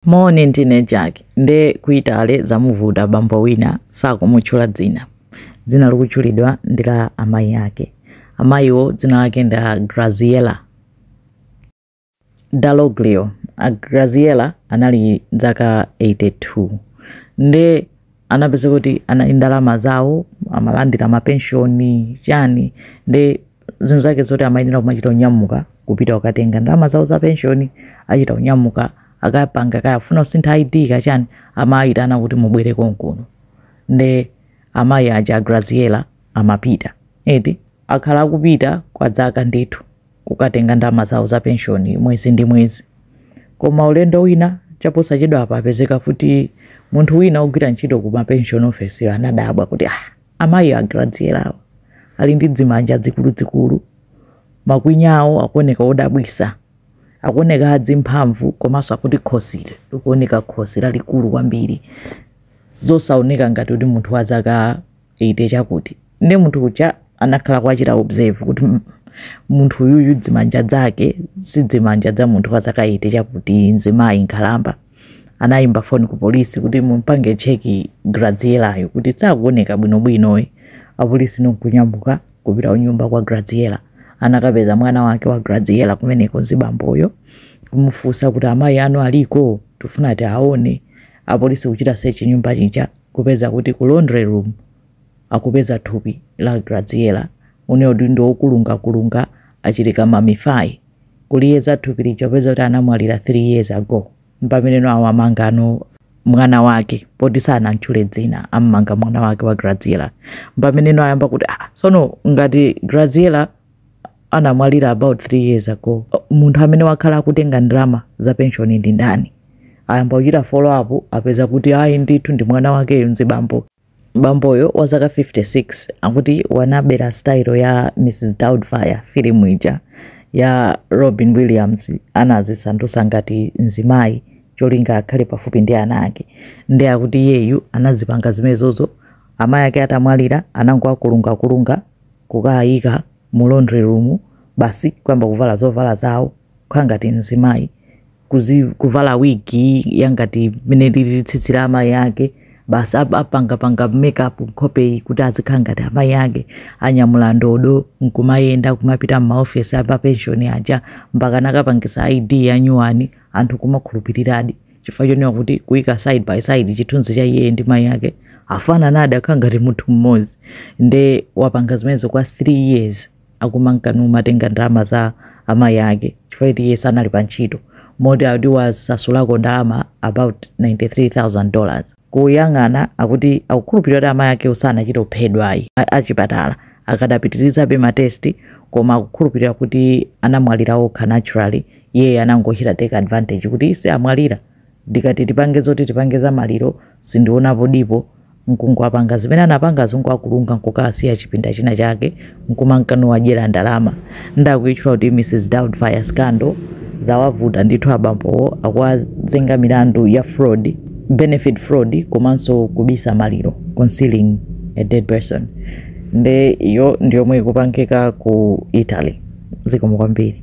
Morning ndine Jack nde ku Italy zamuvuta bambo wina sakumutchula dzina. Dzina likutchulidwa ndi la amayi ake. Amayiwo dzina lake ndi a Graziella Dalloglio. A Graziella anali dzaka 82 nde anapeza kuti anali ndalama zawo amalandira mapenshoni chani nde zinthu zake zoti amayenera kumachita kunyamuka kupita kukatenga ndalama zawo za penshoni achita kunyamuka akapanga kaya afuna kusintha id kachani amayitana kuti mubwere konkuno nde amayi aja a graziela amapita eti akhala akupita kwa dzaka ndithu kukatenga ndalama zawo za penshoni mwezi ndi mwezi. Koma ulendo wina chaposachedwapa papezeka kuti munthu wina wogwira ntchito ku mapenshoni ofesiyo anadabwa kuti ah, amayi a Graziella awa ali ndi dzimanja dzikuludzikulu, makwinya awo akuoneka odabwisa, akuoneka adzimphamvu komanso akuti khosi likuoneka khosi lalikulu kwambiri zosaoneka ngati kuti munthu wa zaka 80 chakuti nde munthu uja anakhala akuwachita observe kuti "Mm, munthu uyuyu dzimanja dzake si dzimanja dza munthu wa zaka 80 chakuti mzimayi nkhalamba anayimba foni ku polisi kuti mumpange cheki grazielayo kuti sakuoneka bwinobwinoyi apolisi nkunyamuka kupita kunyumba kwa graziela anakapeza mwana wake wa graziela kumeneko zibamboyo kumufunsa kuti amayi anu aliko tifuna tiwaone apolisi kuchita sechi nyumba chija kupeza kuti ku laundry room akupeza thupi la Graziella uli mu dindi wokulungakulunga achita ka mummify kuliyeza thupi lija kupeza kuti anamwalira 3 years ago mpameneno awamangano mwana wake poti sanamtchule dzina ammanga mwana wake wa Graziella mpameneno ayamba kuti ah, sono ngati Graziella anamwalira about 3 years ago munthu amene wakhala akutenga ndalama za penshoni ndi ndani ayamba kuchita follow up apeza kuti ayi ndithu ndi mwana wakeyo nzibambo bamboyo wa zaka 56 akuti wanabera style ya mrs doubtfire filimu ija ya robin williams anazisandutsa ngati nzimayi cholinga akhale pafupi ndi ana ake nde akuti iyeyu anazipanga zimenezozo amayi ake atamwalira anangowakulungakulunga kukawayika mu laundry room basi kuyamba kuvala zovala zawo kukhala ngati mzimayi kuzi, kuvala wigi yangati mmene lilili tsitsi la amayi ake basi ap- apangapanga makeup nkhopeyi kuti azikhala ngati amayi ake anyamula ndodo nkumayenda kumapita m'maofesi a mapenshoni aja mpaka anakapangisa id yanyuwani anthu kumakhulupiriradi chifukwa choneka kuti kuika side by side chithunzi cha iye ndi mayi ake afanana nde akukhala ngati munthu mmodzi nde wapanga zimenezo kwa 3 years akumanka numatenga ndalama za amayi ake chifukwa kuti iye sanali pa ntchito moti ati wasasulako ndalama about 93000 dollars kuyang'ana akuti akukhulupirira kuti amayi akewo sanachite kuphedwa ayi. Achipatala akadapitirizabe ma test koma akukhulupirira kuti anamwalira okha naturally. Iye anangochita take advantage kuti ii si amwalira. Ndikati tipange zoti tipange za maliro sindionapo dipo nkungowapanga zimene anapangazo nkuwakulunga nkukawasiya chipinda china chake nkumanka nuwadyera ndalama nde akuitchula kuti Mrs Doubtfire scandal, zawavuta ndithu abambowo akuwazenga milandu ya fraud, benefit fraud komanso kubisa maliro, concealing a dead person, nde iyo ndiyomwe ikupangika ku Italy. Zikomo kwambiri.